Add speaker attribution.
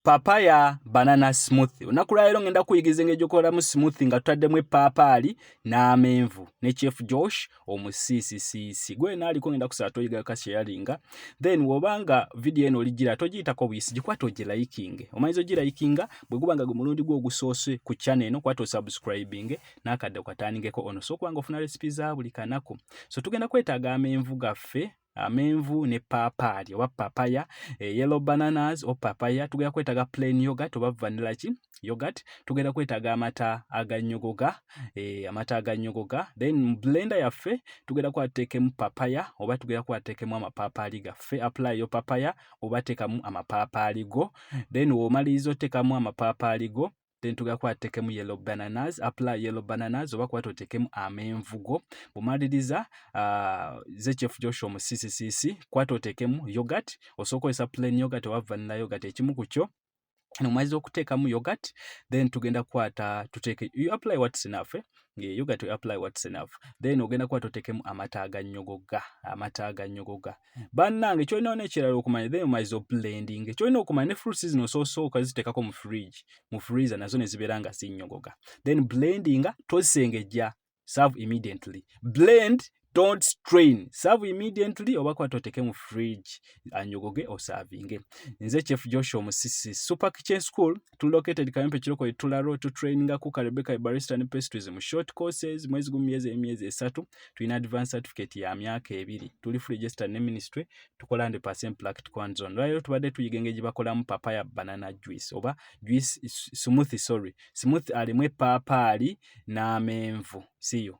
Speaker 1: papaya banana smoothie olunaku lwaleero ngenda kuyigiza engeri gyokolamu smoothie nga tutaddemu epaapaali n'amenvu ne chief josh omusiisisiisi gwe yena aliko ngenda kusaba toyiga kasheyalinga then wobanga vidiyo eno oligira togiyitako buyisi gikwata ogilayikinge omanyiza ogilayikinga bwe guba nga gwe mulundi gwe ogusoose ku channel eno kwata osubscribinge n'akadde okatandingeko ono so okubanga ofuna recipe za buli kanaku so tugenda kwetaaga amenvu gaffe amenvu ne papaali oba papaya eh, yellow bananas o papaya tugenda kwetaga plain yogurt oba vanilla ki yogurt tugenda kwetaga amata aganyogoga eh, amata aganyogoga then blender yaffe tugenda kwatekemu papaya oba tugenda kwatekemu amapapaali gaffe apply yo papaya oba tekamu amapapaali go then womaliriza otekamu amapapaali go then tugenda kuba tutekemu yellow bananas apula yellow bananas oba kuba totekemu amenvugo bwomaliriza uh, ze chef joshua mu ccc kuba totekemu yogurt osobola okozesa plain yogurt oba vanilla yogurt ekimu ku kyo nomaliza okuteekamu yogurt then tugenda kukwata tuteeke you apply what's enough eh? Yeah, you got to apply what's enough then ogenda kuba totekemu amata aganyogoga amata aganyogoga bannange kyolina ona ekirala okumanya then omaze oblending kyolina okumanya ne fruits zino ososooka zitekako mu fridge mu freezer nazo nezibeera nga zinyogoga then blendinga tosengejja serve immediately blend don't strain serve immediately oba kwata oteke mu fridge anyogoge osavinge nze chef joshua musisi super kitchen school to located kayempe kiroko etula road to training a cook rebecca barista and pastries mu short courses mwezi gumu myezi emyezi esatu tulina advance certificate ya myaka ebiri tuli free register ne ministry tukola ndi percent practical hands on lwayo tubadde tuyiga engeri bakolamu papaya banana juice oba juice smoothie sorry smoothie alimu epaapaali n'amenvu siyo